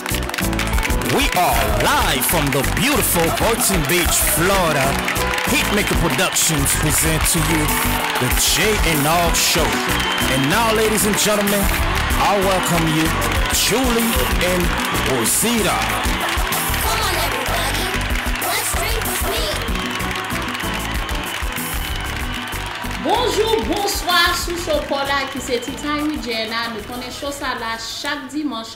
We are live from the beautiful Boynton Beach, Florida, Hitmaker Productions present to you the Jay and Nov Show and now ladies and gentlemen I welcome you Julie and Rosita. Bonjou, bonswa sou show paw la ki se Tea Time with Jay and Nov nou konnen show sa la chak dimanch.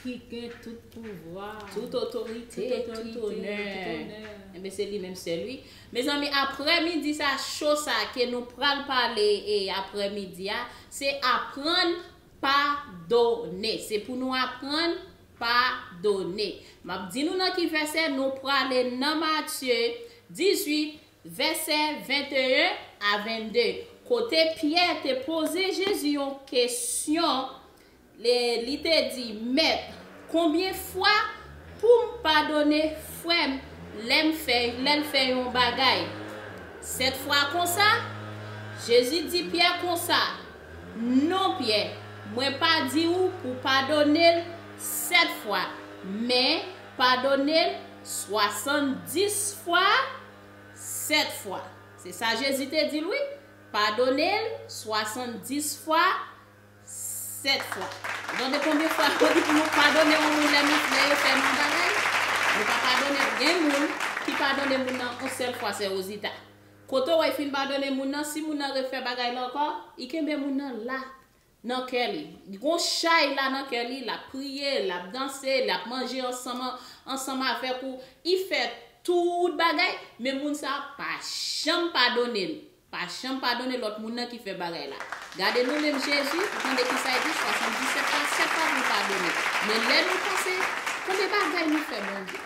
Ki gen tout pouvwa. Tout otorite. Tout otorite. Tout onè. Tout onè. Enben se li menm sèl wi. Mezanmi aprè midi sa cho sa ke nou pral pale e aprè midi a se aprann padone. Se pou nou aprann padone. Map di nou nan ki vèsè nou prale nan Matye 18 vèsè 21 a 22. Kote Pyè te poze Jezi yon kesyon E li te di, Mèt, konbyen fwa pou m padone frè m lè m fè, lè l fè yon bagay? Sèt fwa konsa? Jezi di Pyè konsa, Non, Pyè, mwen pa di ou pou padone l sèt fwa, men, padone l swasanndis fwa sèt fwa. Se sa Jezi te di l wi, Padone l swasanndis fwa 7 fwa. Ou tande konbyen fwa yo di pou nou padone yon moun lè lè yo fè nou yon bagay? Nou pa padone. Gen moun ki padone moun nan yon sèl fwa sè Rozita. Kote w wè li fin padone moun nan, si moun nan refè bagay la ankò, li kenbe moun nan la nan kè li. Li gen yon chay la nan kè li, l ap priye, l ap danse, l ap manje ansanm ansanm avèk ou, li fè tout bagay, men moun sa a pa janm padone l. Pa janm padone lòt moun nan ki fè bagay la. Gade nou menm Jezi, ou tande kisa l di, 77 pa 7 pa pou l padone. Men lè nou panse, konbe bagay nou fè Bondye?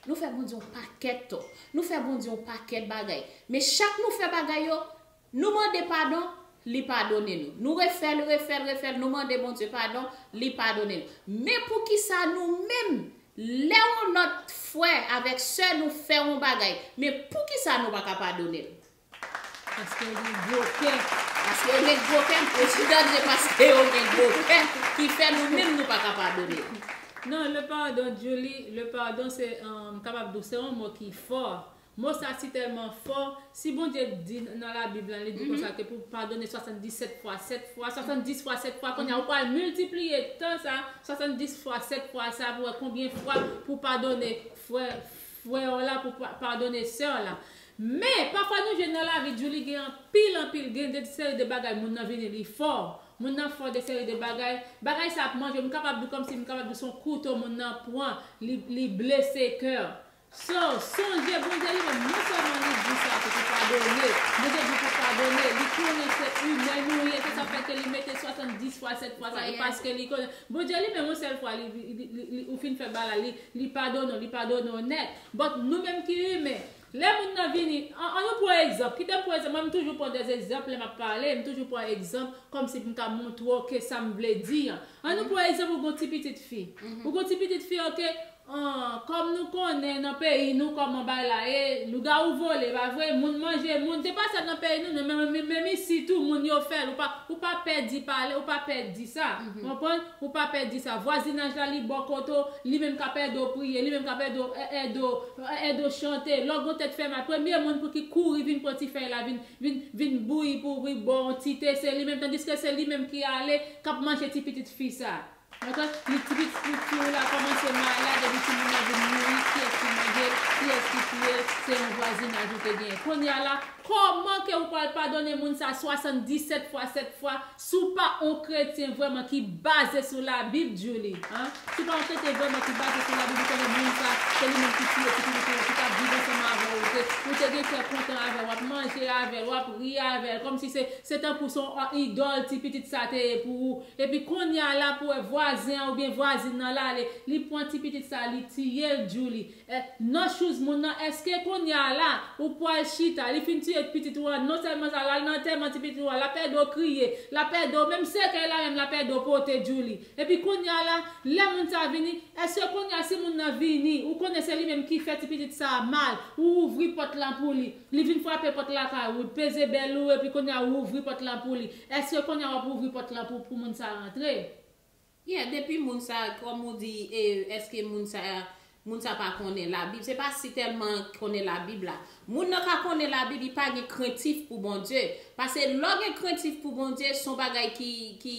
Nou fè Bondye yon pakèt tò. Nou fè Bondye yon pakèt bagay. Men chak nou fè bagay yo, nou mande padon, li padone nou. Nou refè l, refè l, refè l, nou mande Bondye padon, li padone nou. Men poukisa nou menm Lè yon lòt frè avèk sè nou fè yon bagay, men poukisa nou pa ka padone l? Paske yo gen gwo kè. Paske yo gen gwo kè? Mesye dam, se paske yo gen gwo kè ki fè nou menm nou pa ka padone yo. Non, le pardon, Djoulie, le pardon se, m kapab di w, se yon mo ki fò, Mo sa si tèlman fò, si Bondye t di nan la bib lan li di konsa ke pou padone 77 fwa 7 fwa, 70 fwa 7 fwa kounye a ou pral miltipliye tan sa 70 fwa 7 fwa sa pou wè konbyen fwa pou padone frè frè w la pou padone sè w la men pafwa nou jwenn nan lavi Djoulie gen anpil anpil gen de seri de bagay moun nan vini li fò moun nan fò de seri de bagay bagay sa ap manje m kapab di kòmsi m kapab di son kouto moun nan pran li li blese kè So, sonje Bondye li menm non sèlman li di sa se pou padone, Bondye di pou padone, li konnen se imè nou ye, se sa fè ke li mete 70 fwa 7 fwa sa, e paske li konnen Bondye li menm yon sèl fwa li li ou fin fè bagay li, li padone w, li padone w nèt. But nou menm ki imen, lè moun nan vini, an an nou pran egzanp, kite m pran egzanp, mwen m toujou pran des egzanp lè map pale, m toujou pran egzanp kòmsi pou m ka montre w ke sa m vle di an. An nou pran egzanp ou gon ti pitit fi, ou gon ti pitit fi ok, Ahh kòm nou konnen nan peyi nou kòman bay la ye, lougawou vole pa vre, moun manje moun, se pa sèl nan peyi nou non men menm isi tou moun yo fèl ou pa pè di pale ou pa pè di sa ou konprann ou pa pè di sa vwazinaj la li bò kote w li menm kap ède w priye li menm kap ède w ède w ède w chante lò gon tèt fè mal premye moun pou ki kouri vin pran ti fèy la vin vin vin bouyi pou ou pou li bò w yon ti te se li menm tandiske se li menm ki ale kap manje ti pitit fi sa. Mwen tank li tris pou fi w la komanse malad epi timoun nan vin mouri kiyes ki manje l kiyes ki touye l se yon vwazinaj ou te genyen konnya la koman ke ou pwal padone moun sa 77 fwa 7 fwa si w pa on kretyen vreman ki baze sou la bib djouly an si w pa on kretyen vreman ki baze sou la bib ou konnen moun sa se li menm ki touye ti pitit ou yo ki tap viv ansanm avè w ou te ou te gen kè kontan avè l wap manje avè l wap ri avè l komsi se se tankou son idol ti pitit sa te ye pou ou Epi konnya la pou wè vwazen an oubyen vwazin nan la ale li pwan ti pitit sa li tiyel djouly eh nan shoes moun nan eske konnya la ou pwal chita li fin tiye pitit ou an non selman sa lal nan antèman ti pitit ou an lap edew kriye lap edew menm sekèy la menm lap edew pote djouly epi konnya la lè moun sa vini eske konnya si moun nan vini ou konnen se li menm ki fè ti pitit sa mal ou ouvri pòt lan pou li li vin fwape pòt lakay ou peze bel ou epi konnya ou ouvri pòt lan pou li Eske konnya wap ouvri pòt la pou pou moun sa rantre? Yeah depi moun sa kòm ou di e eske moun sa moun sa pa konnen labib se pa si tèlman konnen labib la moun nan ka konnen labib li pa gen krentif pou Bondye pase lè w gen krentif pou Bondye son bagay ki ki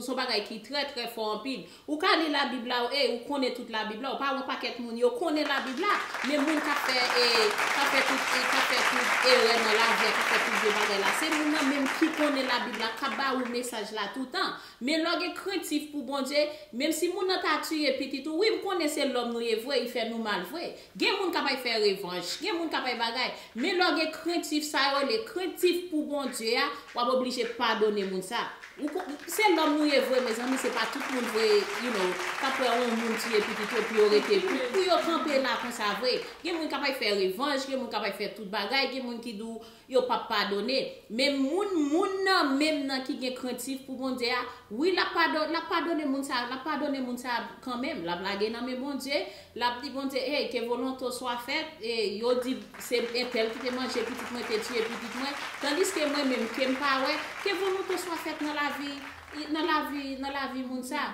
son bagay ki trè trè fò anpil Ou ka li labib la ou ey ou konnen tout labib la ou pa wè pakèt moun yo konnen labib la men moun kap fè e kap fè tout e kap fè tout erè nan lavi a kap fè tout vye bagay la se moun nan menm ki konnen labib la kap ba ou mesaj la toutan men lè w gen krentif pou Bondye menm si moun nan ta tiye pitit ou wi m konnen se lòm nou ye vre li fè nou mal vre Gen moun k ap fè revanch, gen moun k ap bagay, men lè w gen krentif sa yo rele krentif pou Bondye a, w ap oblije padone moun sa. Se lòm nou ye vre mezanmi se pa tout moun vre you know k ap wè yon moun tiye pitit yo pou yo rete pou yo kanpe la konsa vre. Gen moun k ap fè revanch, gen moun k ap fè tout bagay, gen moun ki di w Yo pap padone. Men moun moun nan menm nan ki gen krentif pou Bondye a, wi lap padone lap padone moun sa yo, lap padone moun sa yo kanmenm, lap lage nan men Bondye, lap di Bondye hey ke volonte w swa fèt, yo di se entèl ki te manje pitit mwen te tiye pitit mwen, tandiske mwen menm kem pa wè, ke volonte w swa fèt nan lavi nan lavi nan lavi moun sa.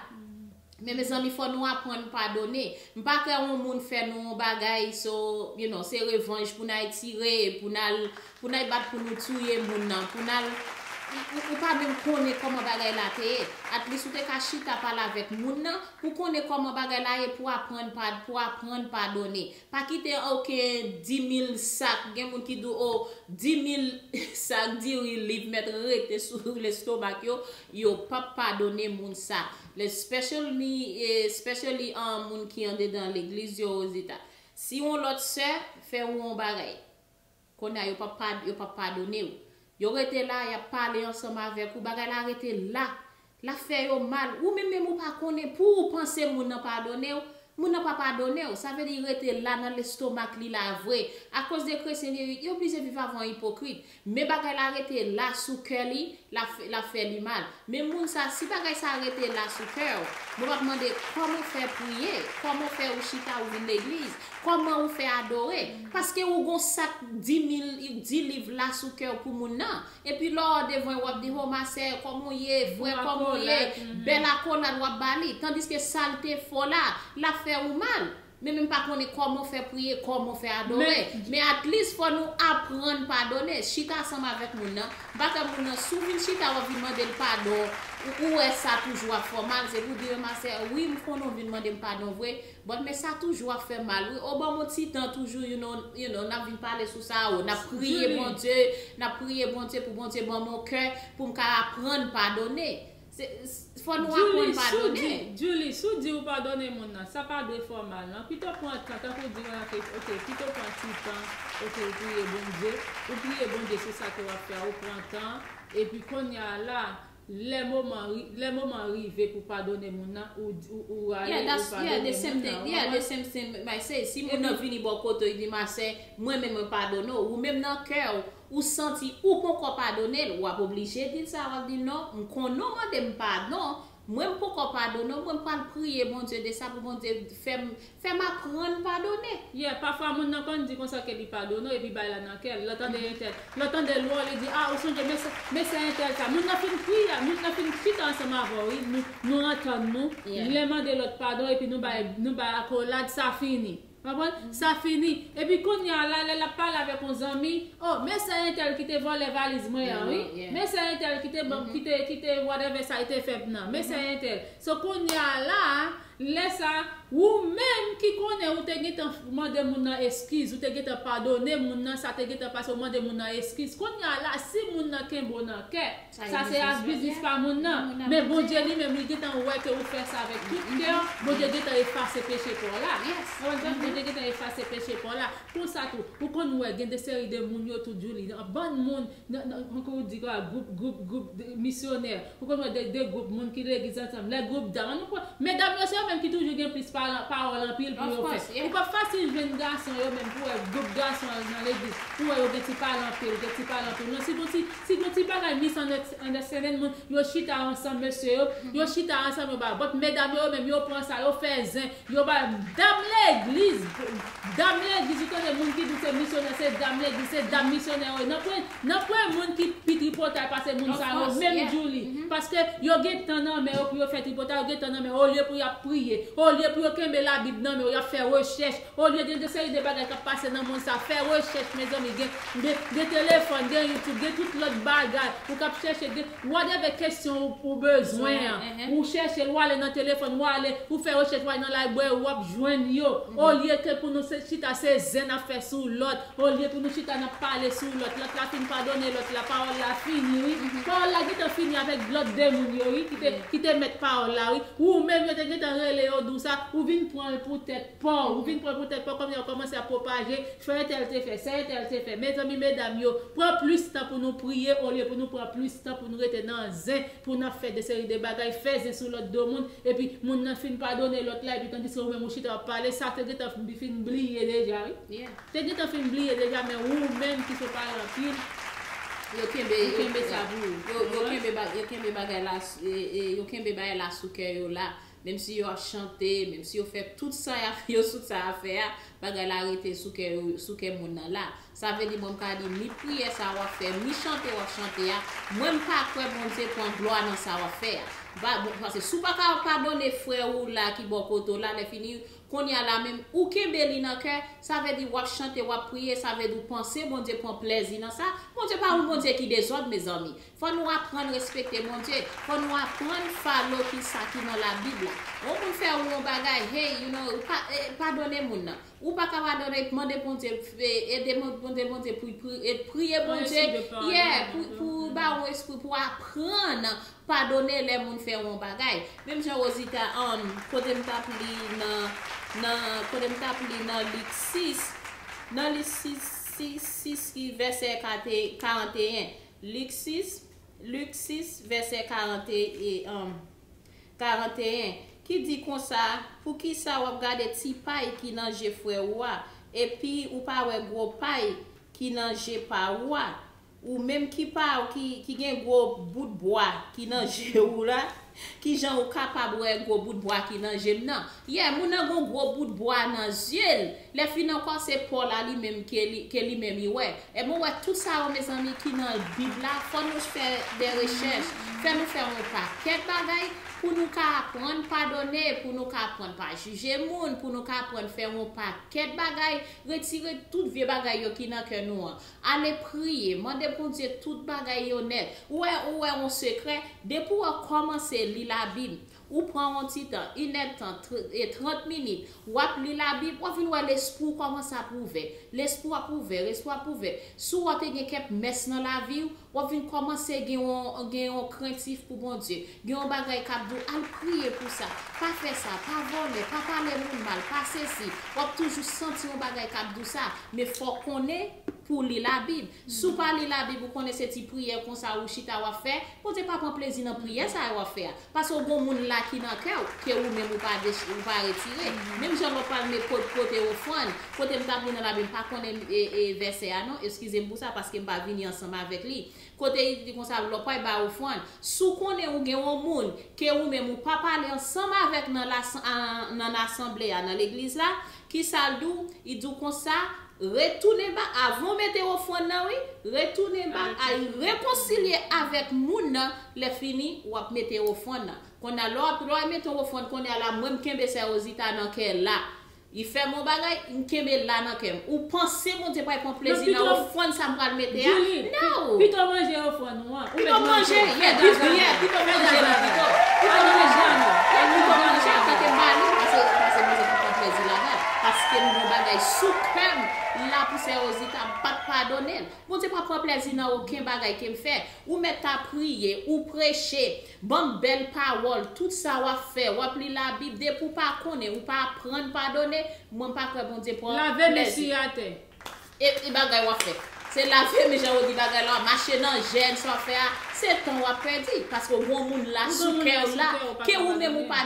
Men mezanmi fò nou aprann padone. M pa kwè on moun fè nou on bagay so you know se revanj pou nay tire, pou nal pou nay bat pou nou touye moun nan, pou nal ou pa menm konnen kòman bagay la te ye. Atlis ou te ka chita pale avèk moun nan pou konnen kòman bagay la ye pou aprann pa pou aprann padone. Pa kite ok dimil sak gen moun ki di w oh dimil sak diri li mèt rete sou lestomak yo, yo pap padone moun sa. Lespecially especially moun ki andedan legliz yo Rosita. Si yon lòt sè fè ou yon bagay. Kounye a yo pap pa yo pap padone ou. Yo rete la yap pale ansanm avèk ou bagay la rete la. Lap fè yo mal. Ou menm menm ou pa konnen pou ou panse moun nan padone ou. Moun nan pa padone ou. Sa vle di rete la nan lestomak li la vre. Akoz de kretyen vye yo blije viv avan ipokrit. Men bagay la rete la sou kè li, lap fè li mal. Men moun sa, si bagay sa rete la sou kè w, mwen pap mande kòman w fè priye, kòman w fè ou chita ou vin legliz, kòman ou fè adore, paske ou gon sak dimil, di liv la sou kè w pou moun nan. Epi lò w devan yo wap di ho ma sè, kòman w ye, frè kòman w ye, bèl akolad wap ba li, tandiske sa l te fè w la, lap fè ou mal. Men menm pa konnen koman fè priye koman fè adore men at least fò nou aprann padone chita ansanm avèk moun nan m pa fè moun nan si w vin chita wap vin mandel padon ou wè sa toujou ap fè w mal se pou di yo ma sè wi m konnen w vin mandem padon vre but men sa toujou ap fèm mal wi o banm yon ti tan toujou you know nap vin pale sou sa o nap priye Bondye nap priye Bondye pou Bondye banm yon kè pou m ka aprann padone Djouly, si w di, Djouly, si w di ou padone moun nan, sa pa dwe fòmal nan, pito pran tan, tankou w di w rantre, ok, pito pran ti tan, ok, ou priye Bondye, ou priye Bondye sou sa ke w ap fè a, ou pran tan, epi konya a la, lè moman, lè moman an rive pou w padone moun nan, ou, ou ale, ou padone moun nan, ou konprann? Yeah, that's, yeah, the same thing, yeah, the same thing, my say, si moun nan vini bò kote w, li di, ma sè, mwen menm mwen padone w, ou menm nan kè w, ou santi ou ponkò padone l, w ap oblije di l sa, w ap di l non, m konnen w mande m padon, mwen m ponkò padone w, mwen m pral priye Bondye de sa pou Bondye fè m fè m aprann padone. Yeah, pafwa moun nan konn di konsa ke li padone w epi bay la nan kè l, lè l tande entèl, lè l tande lwa w li di ah ou sonje men sa, men sa entèl ta, moun nan fin priye, moun nan fin chita ansanm avè w wi, nou nou antann nou, lè mande lòt padon epi nou bay nou bay akolad sa fini. Konprann? Sa fini. Epi kounye a la, lè l ap pale avèk yon zanmi, O, men sè entèl ki te vòlè valiz mwen an wi. Men sè entèl ki te ban m, ki te, ki te whatever sa li te fè m nan. Men sè entèl. So kounye a la, lè sa a, ou menm ki konnen ou te gentan mande moun nan eskiz, ou te gentan padone moun nan, sa te gentan pase, ou mande moun nan eskiz. Kounye a la, si moun nan kenbe w nan kè, Sa se ak biznis pa moun nan. Men Bondye li menm li gentan wè ke ou fè sa avèk tout kè w, Bondye gentan efase peche pa w la. Bondye gentan efase peche pa w la. Konsa tou, ou konn wè gen de seri de moun yo tou Djoulie, nan bann moun, nan, nan, nan, kòman ou di kòl la, gwoup, gwoup, gwoup de misyonè, ou konn wè de, de gwoup moun ki legliz ansanm, lè gwoup dam, an nou kwè, medam yo se yo menm ki toujou gen plis paran, pawòl anpil pou yo fè. Ou p ap fasil jwenn gason yo menm pou wè gwoup gason nan legliz, pou wè yo gen ti pale anpil, gen ti pale anpil. Non si gon ti. Si gon ti bagay mis an understanding moun yo chita ansanm mesye yo yo chita ansanm yo ba vòt medam yo yo menm yo pran sa yo fè zen yo ba dam legliz dam legliz ou tande moun ki di se misyonè se dam legliz se dam misyonè yo ye nan pwen nan pwen moun ki pi tripotay pase moun sa yo menm djouli paske yo gen tan nan men yo pou yo fè tripotay yo gen tan nan men yo olye pou yap priye olye pou yo kenbe labib nan men yo yap fè rechèch Olye gen de seri de bagay kap pase nan mond sa fè rechèch mezanmi gen gen telefòn gen youtube gen tout lòt bagay ou kap chèche gen whatever kesyon ou bezwen an ou chèchel wale nan telefòn wale ou fè rechèch wale nan library wap jwenn yo olye ke pou nou chita se zen nap fè sou lòt olye pou nou chita nap pale sou lòt lòt la fin padone lòt la pawòl la fini wi pawòl la gentan fini avèk lòt de moun yo wi ki te mèt pawòl la wi ou menm yo te gentan rele yo di w sa ou vin pranl pou tèt Paw, ou vin pran pou tèt paw kòmnye wap kòmanse ap pwopaje, fè entèl te fè, sa entèl te fè, mezanmi medam yo, pran plis tan pou nou priye olye pou nou pran plis tan pou nou rete nan zen, pou nap fè de seri de bagay, fè zen sou lòt do moun, epi moun nan fin padone lòt la epi tandiske ou menm ou chita wap pale, sa te gentan fin bliye deja wi, te gentan fin bliye deja men ou menm ki se paran anpil, ou kenbe sa pou ou. Yo kenbe bagay la sou kè yo la. menm si yo ap chante, menm si yo fè tout sa y ap yo tout sa y ap fè a, bagay la rete sou kè yo, sou kè moun nan la. Sa vle di mwen m ka di ni priyè sa w ap fè, ni chante w ap chante a, mwen m pa kwè Bondye pran glwa nan sa w ap fè a. Ba, bon, pase si w pa ka padone frè ou la ki bò kote w la, lèfini, kounye a la menm, ou kenbe li nan kè, sa vle di w ap chante, w ap priye, sa vle di w panse Bondye pran plèzi nan sa, Bondye pa yon Bondye ki dezòd, mezanmi. Fò nou aprann respekte Bondye. Fò nou aprann follow kisa ki nan la bib la. Yon moun fè ou yon bagay hey you know padone moun nan. Ou paka padone mande Bondye ede mande Bondye pou priye Bondye yeah pou ba ou espri pou aprann padone lè moun fè ou yon bagay. Menm jan Rosita an kote m tap li nan nan kote m tap li nan Lik 6 nan Lik 6 6 6 ki vèsè 41. Lik 6, Luc 6, vèsè 41, ki di konsa, Poukisa w ap gade ti pay ki nan je frè ou a, epi ou pa wè gwo pay ki nan je pa ou a? Ou menm ki gen gwo bout bwa ki nan je ou la, Kijan ou kapab wè gwo bout bwa ki nan jem nan? Yeah moun nan gon gwo bout bwa nan yeux l, lè fin ankò se po la li menm ke li menm li wè. Ebon ou wè tout sa yo mezanmi ki nan bib la fò nou fè de rechèch, fè nou fè yon pakèt bagay pou nou ka aprann padone, pou nou ka aprann pa jije moun, pou nou ka aprann fè yon pakèt bagay, retire tout vye bagay yo ki nan kè nou an. Ale priye, mande Bondye tout bagay yo nèt. Ou wè ou wè on sekrè, depi w kòmanse li labib, ou pran on ti tan, inèdtan, trant minit, w ap li labib, w ap vin wè lespri w kòmanse ap ouvè, lespri w ap ouvè, lespri w ap ouvè. Si w te gen kèk mès nan lavi w, W ap vin kòmanse gen yon gen yon krentif pou Bondye. Gen yon bagay k ap di w al priye pou sa, pa fè sa, pa vòlè, pa pale moun mal, pa sesi. W ap toujou santi yon bagay k ap di w sa. Men fò w konnen pou w li Labib. Si w pa li Labib, ou konnen se ti priyè konsa ou chita w ap fè, Bondye pa pran plezi nan priyè sa yo w ap fè a. Paske w gon moun la ki nan kè w, ke ou menm ou pa ou pa retire. Menm jan lò pral me pot pote ofrann, kote m t ap li nan Labib, m pa konnen vèsè a non, eskize m pou sa, paske m pa vini ansanm avèk li. Kote li di konsa, lò pral bay ofrann, si w konnen ou gen yon moun, ke ou menm ou pa pale ansanm avèk nan nan asanble a, nan legliz la, Kisa l di w? Li di w konsa, Retounen ba, avan w mete ofrann nan wi, retounen ba a, rekonsilye avèk moun nan, lèfini, w ap mete ofrann nan. Konn a, lè w ap, lè w al mete yon ofrann, kounye a la, mwen m kenbe sè Rozita nan kè la. Li fè m yon bagay, m kenbe l la nan kè m. Ou panse Bondye pral pran plezi nan ofrann sa m pral mete a? Nan! Pito w manje ofrann ou. Pito m manje yè bif li yè pito m manje la pito pito m manje anò e pito m manje antan ke bali pase pase manzè pou pran plezi ladanl paske m gon bagay sou kèm la pou sè rozita m pap padonel bondye pa pran plezi nan oken bagay kem fè ou mèt ta priye ou preche banm bèl pawòl tout sa wap fè wap li labib depi ou pa konnen ou pa aprann padone mwen m pa kwè bondye pran plezi. Lave men siye atè. Epi bagay wap fè Se lave men jan ou di bagay la wap mache nan jèn sa wap fè a se tan wap pèdi paske ou gen yon moun la sou kè ou la ke ou menm ou pa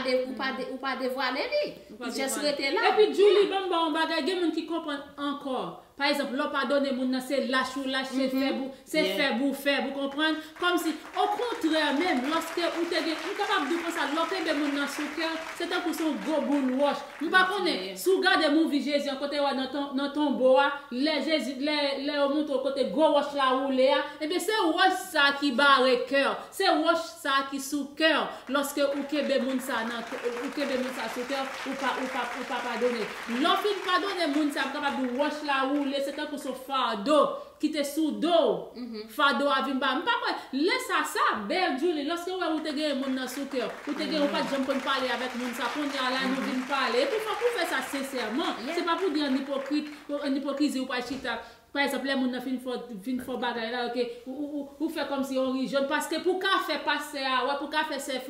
ou pa devwale li li just rete la Epi Djoulie banm baw yon bagay gen moun ki konprann ankò pa egzanp lè w padone moun nan se lach ou lach se fèb ou Se fè bou fè bou konprann, kòmsi. Okontrè menm, lòske ou te gen, m kapab di w konsa, lè w kenbe moun nan sou kè w, se tankou se yon gwo boul wòch. M pa konnen, si w gade movie Jezi an, kote yo wè nan tonbo a, lè Jezi, lè, lè yo montre w kote gwo wòch la woule a, ebyen se wòch sa a ki bare kè w, se wòch sa a ki sou kè w, lòske ou kenbe moun sa a nan, ou kenbe moun sa a sou kè w, ou pa, ou pa, ou pa padone. Lè w fin padone moun sa a, m kapab di w wòch la woule, se tankou se yon fardo. Kite sou dow. Fado a vin ba. M pa kwè. Lè sa sa bèl Djoulie lòske wè ou te genyen moun nan sou kèw. Ou te genyen ou pat janm konn pale avèk moun sa kounya la nou vin pale epi fòk ou fè sa sensèman se pa pou di an ipokrit an ipokrizi ou pa chita pa egzanp lè moun nan fin fò fin fò bagay la ok ou ou ou fè kòmsi on ri jòn paske pou ka fè pastè a wè pou ka fè sè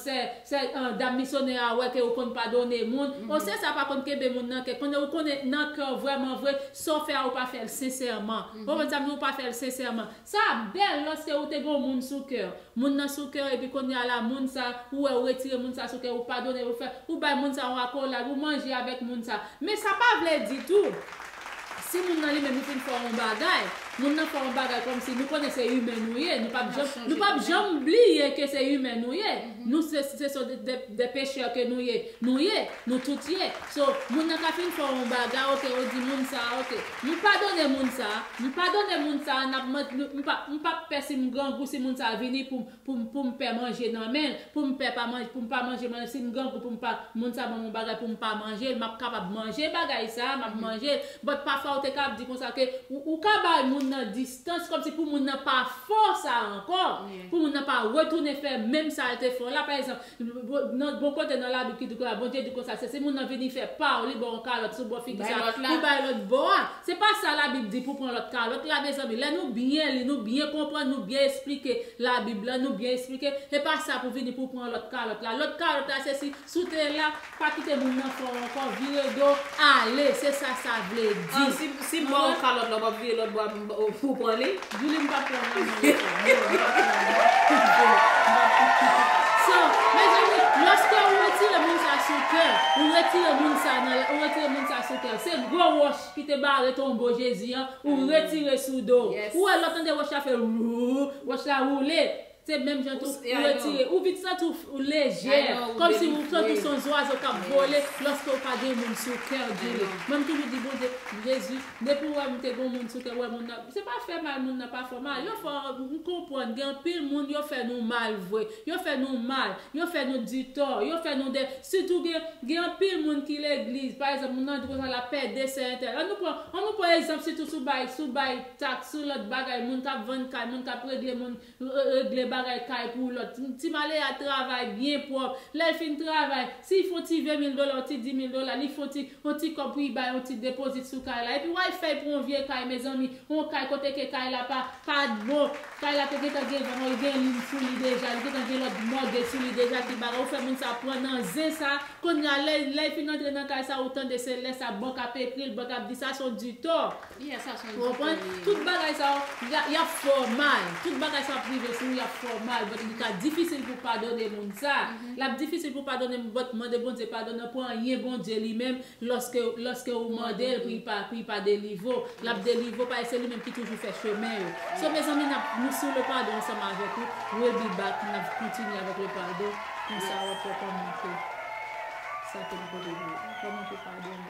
Sè, sè, dam misonè a wè ke ou konn padone moun. O sè sa pa konn kenbe moun nan kè. Konnen ou konnen nan kè w vrèman vre, sa w fè a ou pa fè l sensèman. Ou konprann sa m di, ou pa fè l sensèman. Sa ap bèl lòske ou te gen yon moun sou kè w. Moun nan sou kè w epi kounye a la moun sa, ou wè ou retire moun sa sou kè w, ou padone l, ou fè, ou bay moun sa yon akolad, ou manje avèk moun sa. Men sa pa vle di tou. Si moun nan li menm li fin fè yon bagay, moun nan fè yon bagay kòmsi nou konnen se imen nou ye, nou pap janm, nou pap janm bliye ke se imen nou ye, nou se, se son de, de pechè ke nou ye, nou ye, nou tout ye, so, moun nan ka fin fè yon bagay ok ou di moun sa a ok, nou padone moun sa a, nou padone moun sa a nap mande, nou, nou pap, nou pap pè si m grangou si moun sa a vini pou m. poum poum pè manje nan menl poum pè pa manje poum pa manje manl sim grangou poum pa moun sa banm yon bagay poum pa manjel map kapab manje bagay sa map manjel but pafwa ou te ka ap di konsa ke ou ou ka bay moun nan distans kòmsi pou moun nan pa fò sa ankò pou moun nan pa retounen fè menm sal te fè la pa egzanp Nan bon kote nan labib ki di konsa Bondye di konsa se si moun nan vini fè paw li baw yon kalòt sou bò figi sa pou bay lòt bò a se pa sa labib di pou pran lòt kalòt la mezanmi lè nou byen li nou byen konprann nou byen esplike labib la nou byen esplike e pa sa pou vini pou pran lòt kalòt la lòt kalòt la se si si w te la Pa kite moun nan fè w ankò, vire do, ale, se sa sa vle di. An, si, si m ba w kalòt la, w pa p vire lòt bra pou w pran li? Julie, m pa p pran nan men l ankò. Non, m pa p pran nan men l. Julie, m pa p pran. So, mezanmi, lòske ou retire moun sa sou kè, ou retire moun sa nan la, ou retire moun sa sou kè w. Se gwo wòch ki te bare tonbo Jezi an, ou retire sou do w. Ou wè lè w tande wòch la fè, Wouuuh! Wòch la woule. Se menm jan tou, ou retire, ou vin santi ou lejè, kòmsi ou santi ou se yon zwazo k ap vole lòske ou pa gen moun sou kè w, Julie. Mwen m toujou di Bondye, Jezi, depi w wè m te gen yon moun sou kè m, wè moun nan, se pa fè mal moun nan pa fè w mal, yo fè w, m konprann gen anpil moun yo fè nou mal vre, yo fè nou mal, yo fè nou di tò, yo fè nou de, sitou gen, gen anpil moun ki legliz, pa egzanp moun nan di konsa l ap pède sè entèl, an nou pran, an nou pran egzanp sitou sou bay, sou bay taks, sou lòt bagay, moun k ap vann kay, moun k ap regle moun, regle bagay kay pou lòt ti malera travay byen pwòp lèl fin travay sil fon ti 20 mil dola yon ti 10 mil dola li fon ti yon ti kòb pou li bay yon ti depozit sou kay la epi wal fèy pou yon vye kay mezanmi yon kay kote ke kay la pa pat bon kay la te gentan gen van li gen lin sou li deja li gentan gen lòt mòtgej sou li deja ki bagay ou fè moun sa pran nan zen sa kounya lèy fin antre nan kay sa ou tande se lè sa bank ap ekril bank ap di sa son ditò. Konprann? Tout bagay sa yo, y ap fè w mal. Tout bagay sa yo ap rive sou ou, y ap fè w mal. But li ka difisil pou w padone moun sa. L ap difisil pou w padone moun, but mande Bondye padon nan pou anyen Bondye li menm, lòske, lòske ou mande l pou li pa, pou li pa delivre w, l ap delivre w paske se li menm ki toujou fè chemen yo. So mezanmi n ap, nou sou le padon ansanm avèk ou. We'll be back, n ap kontinye avèk le padon, konsa w ap wè kòman ke sa ke nou pote pou ou. Kòman pou w padone.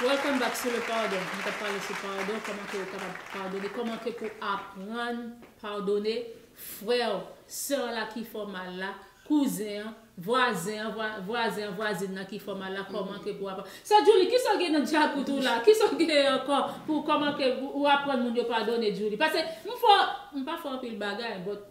Welcome back sou le pardon nou tap pale sou pardon koman ke ou kapab padone koman ke pou aprann padone freo sè an la ki fè mal la kouzen an vwazen an vwazen an vwazin nan ki fè mal la koman ke pou aprann sè djouli kisa gen nan djakout ou la kisa gen anko pou koman ke ou aprann moun yo padone djouli pase m fè m pa fè anpil bagay but.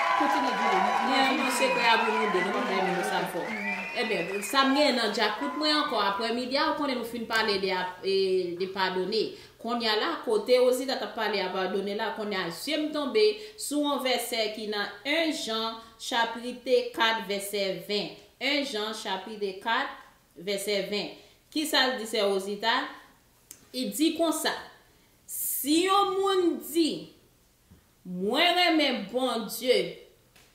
Kontinye di li. Li an yon sekrè avw nou 2 nou pa bay moun yo sa fò. Ebyen sam gen nan djakout mwen ankò aprè midi a ou konnen nou fin pale de ap de padone konnya la kote Rosita tap pale a padone la konnya zyem tonbe sou on vèsè ki nan 1 Jan chaprite 4 vèsè 20 1 Jan chaprite 4 vèsè 20 kisal di sè Rosita li di konsa si yon moun di Mwen renmen Bondye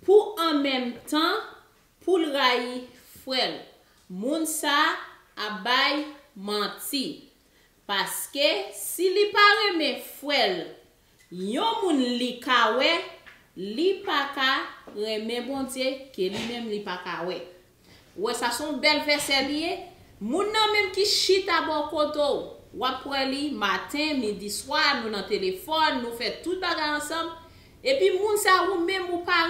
Pou an menm tan poul rayi frèl moun sa ap bay manti paske si li pa renmen frèl yon moun li ka wè li paka renmen Bondye ke li menm li paka wè. Ou wè sa son bèl vèsè li ye, moun nan menm ki chita bò kote w, wap kwè li, maten, midi, swa, nou nan telefòn, nou fè tout bagay ansanm, epi moun sa ou menm ou pa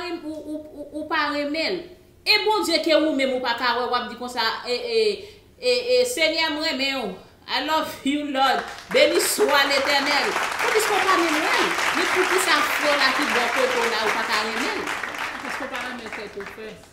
ou pa renmen l, e Bondye ke ou menm ou pa ka wè wap di konsa ee Senyè m renmen w I love you Lord, beni swa Letènèl, se piske ou pa menm wè l, men poukisa frè w la ki bò kote w la ou pa ka renmen l? Se paske ou pa renmen tèt ou first.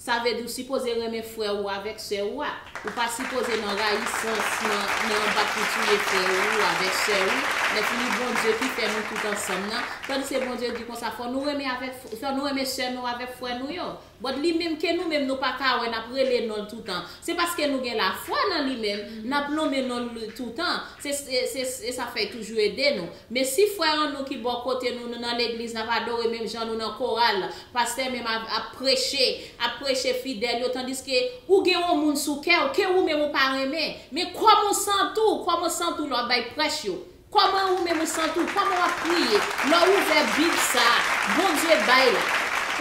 Sa vle di ou sipoze renmen frè ou avèk sè ou a. Ou pa sipoze nan rayisans, nan nan anba pou touye frè ou avèk sè ou. Lèfini Bondye ki fè nou tout ansanm nan. Tandiske Bondye di konsa fò nou renmen avèk fò nou renmen sè nou avèk frè nou yo. But li menm ke nou menm nou pa ka wè nap rele non l toutan. Se paske nou gen lafwa nan li menm nap lonmen non l toutan. Se se se sa fèy toujou ede nou. Mesi frère an nou ki bò kote nou nou nan legliz nap adore menm jan nou nan koral pastè menm av ap preche ap preche fidèl yo tandiske ou gen yon moun sou kèw ke ou menm ou pa renmen men kòman ou santi w kòman ou santi w lè wap bay prèch yo kòman ou menm ou santi w kòman wap priye lè w ouvè bib sa Bondye bay la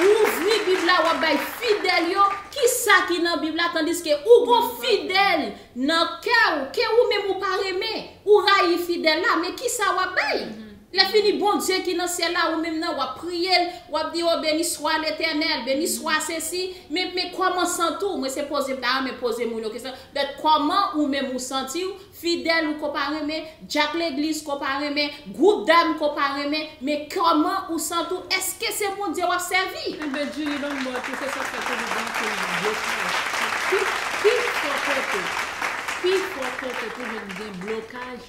ou ouvri bib la wap bay fidèl yo kisa ki nan bib la tandiske ou gon fidèl nan kèw ke ou menm ou pa renmen. Ou rayi fidèl la, men kisa wap bay? Lè fini Bondye ki nan syèl la ou menm nan wap priyel, wap di oh beni swa letènèl, beni swa sesi, men men kòman santi w? Mwen se pozem ta renmen poze moun yo kesyon, but kòman ou menm ou santi w, fidèl ou ko pa renmen, djak legliz ko pa renmen, Group dam ko pa renmen men koman ou sant ou eske se bondye wap sèvi. Enben Julie banm mòd pou se sak fè tony banm fil nan blo kaj ak tout pi fò kote pi fò kote pou jwenn gen blo kaj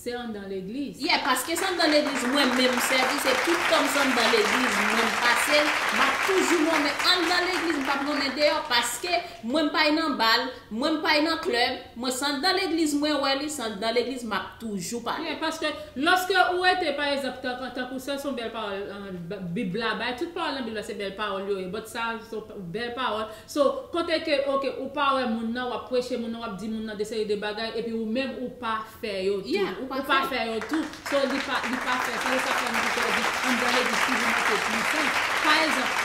se andan legliz. Yeah paske se andan legliz mwen menm sèvi se tout tanm se andan legliz mwen m pasel map toujou lonmen andan legliz m pap lonmen deyò paske mwen m pay nan bal Mwen m pay nan club, mwen se anndan legliz mwen wè li, se anndan legliz map toujou pale. Byen, paske lòske ou rete pa ezanp tank tankou sè son bèl pawòl bib la bay, tout pawòl nan bib la se bèl pawòl yo ye but sa son bèl pawòl, so kote ke ok ou pa wè moun nan wap preche moun nan wap di moun nan de seri de bagay epi ou menm ou pa fè yo tou ou pa fè yo tou so li pa fè sa li pa fè moun ki pèdi anndan legliz si li manke pwisan pa egzanp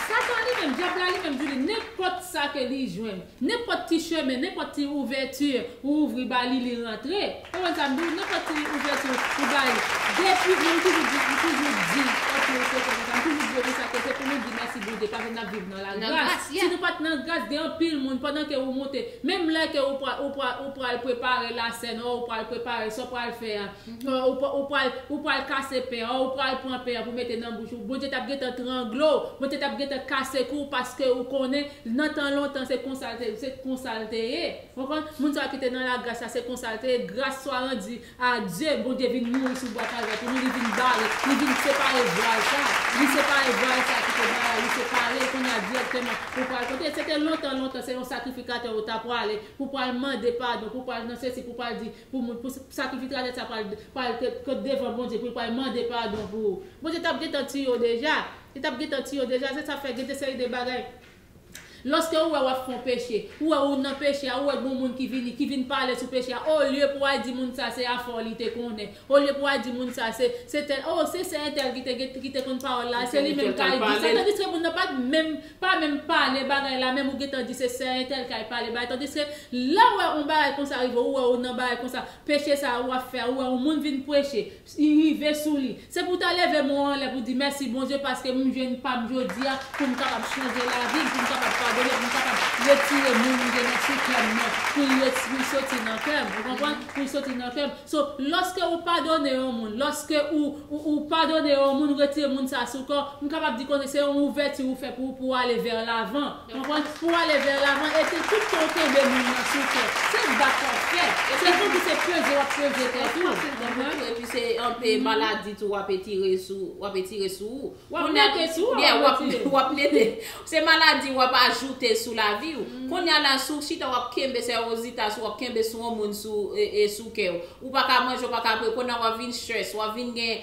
satan li menm dyab la li menm Julie nenpòt sa ke li jwenn nenpòt ti chemen nenpòt ti ouvèti ou ouvri ba li li rantre konprann sa m di w nenpòt ti ouvèti ou ba li depi moun toujou di m toujou di ok m toujou di yo konsa ke se pou nou di mèsi Bondye paske n ap viv Nan la gras, si nou pat nan gras gen anpil moun pandan ke ou moute, menm lè ke ou pral ou pral ou pral prepare la sèn or ou pral prepare sa w pral fè a, or ou ou pral ou pral kase pen an or ou pral pran pen an pou mete nan bouch ou, Bondye tap gentan trangle w, Bondye tap gentan kase kou w paske ou konnen nan tan lontan se konsa l te se konsa l te ye. Ou konprann? Moun sa yo ki te nan la gras la se konsa l te ye, gras swa randi Adye bondye vin mouri sou bwa kalvè pou nou li vin bare li vin separe vwal sa li separe vwal sa ki te bay a li separel kounya dirèkteman ou pral kote se te lontan lontan se yon sakrifikatè ou ta pwale pou pwal mande padon pou pwal nan sesi pou pwal di pou moun pou sakrifikratè sa pwal pwal kot devan bondye poul pwal mande padon pou bondye tap gentan tiye w deja li tap gentan tiye w deja se sa fè gen de seri de bagay Loske ou wè wap fon peche, ou wè ou nan peche a, ou wè gon moun ki vini, ki vin pale sou peche a, olye pou al di moun sa se afè w li te konnen, olye pou al di moun sa se, se tèl, oh se sè entèl ki te gen, ki te konn pawòl la, se li menm kay di sa, tandiske moun nan pat menm, pa menm pale bagay la menm ou gentan di se sè entèl kay pale bagay, tandiske lè ou wè on bagay konsa rive ou, ou wè ou nan bagay konsa, peche sa a ou ap fè a, ou wè on moun vin preche, li rive sou li. Se pou w ta leve men w anlè pou w di mèsi Bondye paske m jwenn pa m jodi a pou m kapab chanje lavi m, pou m kapab padone, pou m kapab retire moun m gen nan sou kè m nan pou l ret pou l soti nan kè m ou konprann pou l soti nan kè m so lòske ou padone yon moun lòske ou ou padone yon moun ou retire moun sa a sou kè w m kapab di kounye se yon ouvèti ou fè pou pou w ale vè lavan. Konprann pou ale vè lavan e se tout tan w kenbe moun nan sou tè. Se bat w ap fè. E se tankou se peze w ap peze tèt ou. Anpil fwa se vre tou. E pi se anpe maladi tou w ap etire sou w ap etire sou ou. W ap mete sou ou. Yeah, w ap mete. Se maladi w ap ajoute sou lavi ou. Konnya la si w chita w ap kenbe sèwozita sou w ap kenbe sou yon moun sou kè w. Ou pa ka manje, ou pa ka bwe. Konnya w ap vin stress, w ap vin gen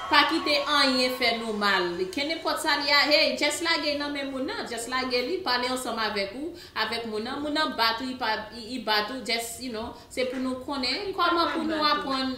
Pa kite anyen fè nou mal. Kenenpòt sa li ya hey just lage nan men moun nan just lage li pale ansanm avèk ou avèk moun nan moun nan bat ou li bat ou just you know se pou nou konnen kòman pou nou aprann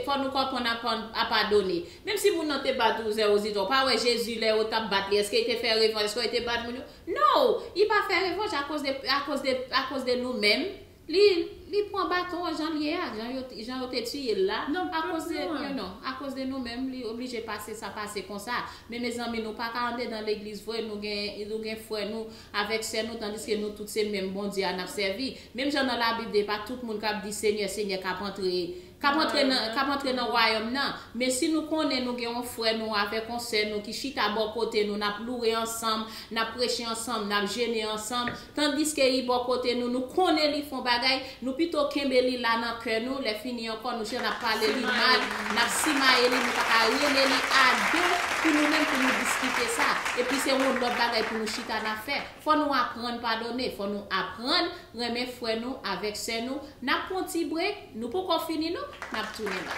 fò nou aprann aprann a padone menm si moun nan te bat ou zèwozitò ou pa wè Jezi lè yo tap bat li èske li te fè revanj èske li te bat moun yo no li pa fè revanj akoz de akoz de akoz de nou menm Li li pwan baton an janl ye a jan yo jan yo te tiyel la akoz de you know akoz de nou menm li oblije pase sa pase konsa men mezanmi nou paka andedan legliz vre nou gen nou gen frè nou avèk sè nou tandiske nou tout se menm Bondye a nap sèvi menm jan nan labib de epa tout moun kap di senyè senyè kap antre K ap antre nan, k ap antre nan Wayòm nan. Men si nou konnen nou gen yon frè nou avèk yon sè nou ki chita bò kote nou, n ap loure ansanm, n ap preche ansanm, n ap jene ansanm, tandiske li bò kote nou, nou konnen li fè yon bagay, nou pito kenbe li la nan kè nou, lèfini ankò nou jis ap pale li mal, n ap simaye li, nou pa ka rele li a de pou nou menm pou nou diskite sa. Epi se yon lòt bagay pou nou chita n ap fè. Fò nou aprann padone, fò nou aprann renmen frè nou avèk sè nou. N ap pran yon ti brek. Nou poko fini non nap tounen bak.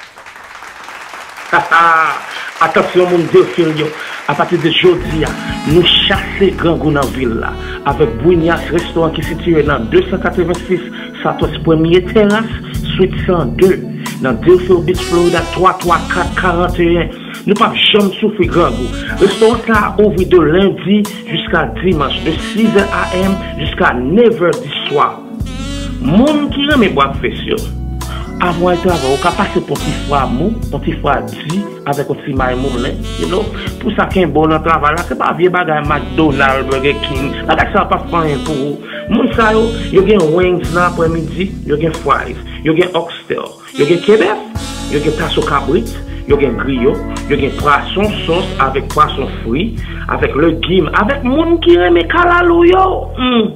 Hahaa atansyon moun Deerfield yo apati de jodia nou chase grangou nan vil la avèk Brunias restoran ki sitiye nan 286 Southwest Premye Terrace Suite 102 nan Deerfield Beach Florida 334 41 nou pap janm soufri grangou restoran sa ouvri de lendi jiska dimanch de 6 è am jiska 9 è di swa. Moun ki renmen bwa presyon. Avan w al travay ou ka pase pou yon ti fwa mou, yon ti fwa di avèk yon ti may moulen you know pou sa kenbe w nan travay la se pa vye bagay McDonald, Burger King bagay sa yo pap fè anyen pou ou moun sa yo, yo gen wings nan aprè midi, yo gen fries, yo gen oxtail, yo gen ke bèf, yo gen taso kabrit, yo gen griyo, yo gen pwason sòs avèk pwason fri avèk legim avèk moun ki renmen kalalou yo humm.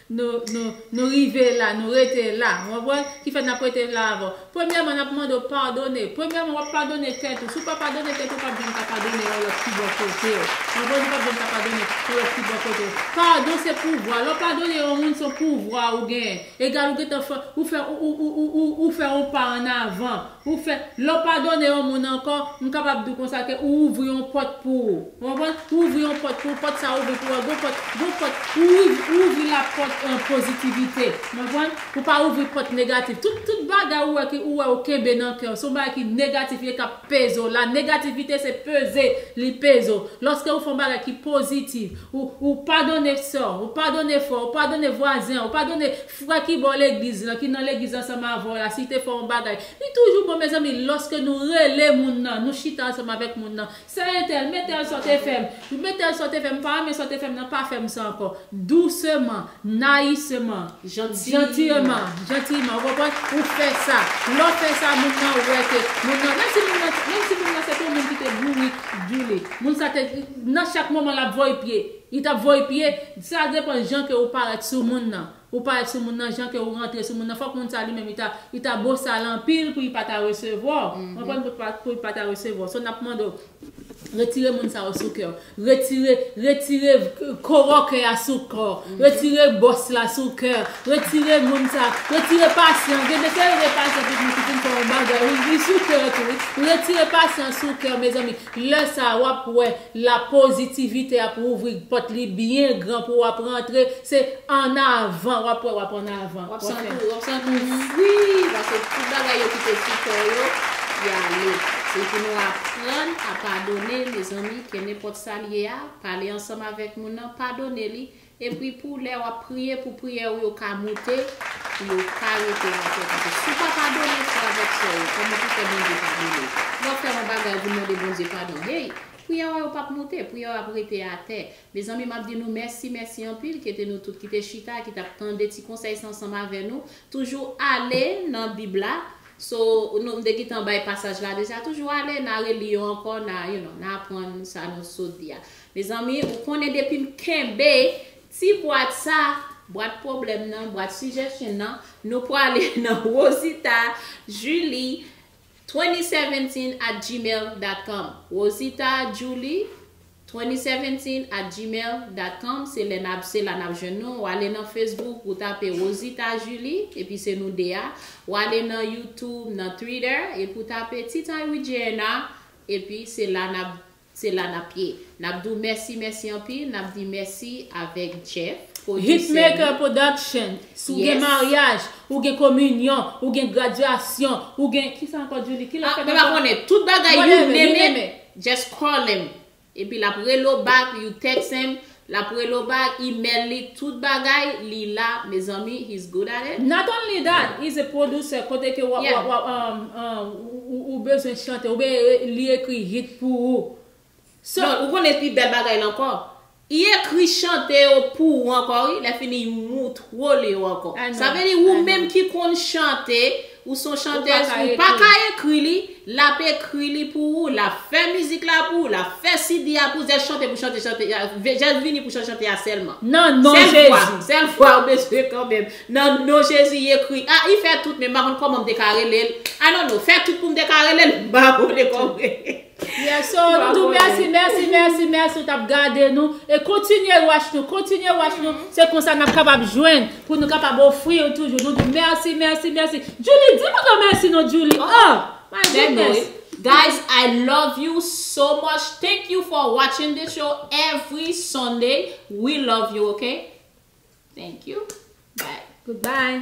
Nou, nou, nou rive la, nou rete la. Ou konprann? Ki fè n ap rete la avè w. Premyèman, n ap mande w padone. Premyèman, w ap padone tèt ou. Si w pa padone tèt ou, ou p ap janm ka padone yon lòt ki bò kote w. Ou konprann? Ou p ap janm ka padone yon lòt ki bò kote w. Padon se pouvwa. Lè w padone yon moun, se yon pouvwa ou genyen. Egal ou gentan fè, ou fè, ou, ou, ou, ou, ou fè yon pa annavan. Ou fè, lè w padone yon moun ankò, m kapab di w konsa ke ou ouvri yon pòt pou ou. Ou konprann? Ou ouvri yon pòt pou ou, pòt sa a ouvri pou ou, gon pòt, gon pòt, ou ouvri, ou ouvri lapòt pozitivite. Ou konprann? Ou pa ouvri pòt negatif. Tout, tout bagay ou wè ki, ou wè ou kenbe nan kè w, se yon bagay ki negatif ye kap peze w. La negativite se peze, li peze w. Lòske ou fè yon bagay ki pozitif, ou, ou padone sè w, ou padone frè w, ou padone vwazen w, ou padone Frè ki bò legliz lan, ki nan legliz ansanm avè w la, si te fè yon bagay, li toujou bon mezanmi lòske nou rele moun nan, nou chita ansanm avèk moun nan, sè entèl, mè tèl sa w te fè m, mè tèl sa w te fè m, m pa renmen sa w te fè m nan, pa fè m sa ankò. Douseman, nayiseman, jantiyeman, jantiyman, ou konprann, ou fè sa. Lè w fè sa, moun nan wè ke, moun nan, menm si moun nan, menm si moun nan se te yon moun ki te bourik, djoulik, moun sa te, nan chak moman l ap voye pye. Li tap voye pye, sa depan jan ke ou parèt sou moun nan, ou parèt sou moun nan jan ke ou rantre sou moun nan fòk moun sa li menm li ta li ta bosal anpil pou li pa ta resevwa w konprann pou li pa ta resevwa w so nap mande w retire moun sa yo sou kè w retire retire koro kè a sou kò w retire bòs la sou kè w retire moun sa retire pasyan gen de kè gen pasyan ki vin fè yon bagay li sou kè w tou wi retire pasyan sou kè w mezanmi. Lè sa a, w ap wè la pozitivite ap ouvri pòt li byen gran pou w ap rantre, se an avan, w ap wè w ap an avan. W ap santi w, w ap santi w fri, paske tout bagay yo ki te sou kò w yo, y ale. Se pou nou aprann a padone, mezanmi, ke nenpòt sa l ye a, pale ansanm avèk moun nan, padone li, Epi pou lè wap priye pou priyè ou yo ka moute pou yo pa rete nan tèt ou paske si ou pa padone frè avèk sè yo kòman pou fè Bondye padone ou wap fè yon bagay pou mande Bondye padon hey priyè ou yo pap moute priyè ou yo ap rete atè mezanmi map di nou mèsi mèsi anpil kete nou tout kite chita ki tap tande ti konsèy sa ansanm avè nou toujou ale nan bib la so nou m te gitan bay pasaj la deja toujou ale na reli yo ankò na you know na aprann sa nou sot di a Mezanmi ou konnen depim kenbe ti bwat sa, bwat pwoblèm nan, bwat suggestion nan, nou prale nan Rosita Julie 2017 at gmail dot com Rosita Julie 2017 at gmail dot com se lè nap se la nap jwenn nou, ou ale nan Facebook ou tape Rosita Julie epi se nou 2 a, ou ale nan YouTube, nan Twitter epi ou tape Tea Time with JNR epi se la nap Se la nap ye. Nap di w mèsi mèsi anpil nap di mèsi avèk Jeff producer nou. Hitmaker production si w gen maryaj ou gen kominyon ou gen gradyasyon ou gen kisa ankò Djoulie ki lap fèt ankò? Ah mwen pa konnen tout bagay you name it just call him epi lap rele w back you text him Lap relew bay email li tout bagay li la mezanmi he's good at it. Not only that he's a producer kote ke ou bezwen chante ou byen li ekri hit pou ou so. Ou konnen pi bèl bagay lan ankò I ekri chante yo pou ou ankò wi lè fini I moutrew yo ankò sa vle di ou menm ki konn chante Ou son chantez ou paka ekri li lap ekri li pou ou lap fè mizik la pou ou lap fè CD a pou ou jès chante pou chante chante jès vini pou chante chante a sèlman sèl vwa sèl vwa ou bezwen kanmenm nan non jezi i ekri a i fè tout men m pa konn kòman m te ka relel I don't know fè tout pou m te ka relel m pa konnen kòman. Yes so nou diw mèsi mèsi mèsi mèsi ou tap gade nou e kontinye watch nou kontinye watch nou se konsa nap kapab jwenn pou nou kapab ofri ou toujou nou diw mèsi mèsi mèsi Djoulie di moun yo mèsi non Djoulie oh my goodness Guys I love you so much thank you for watching this show every Sunday we love you ok thank you bye goodbye.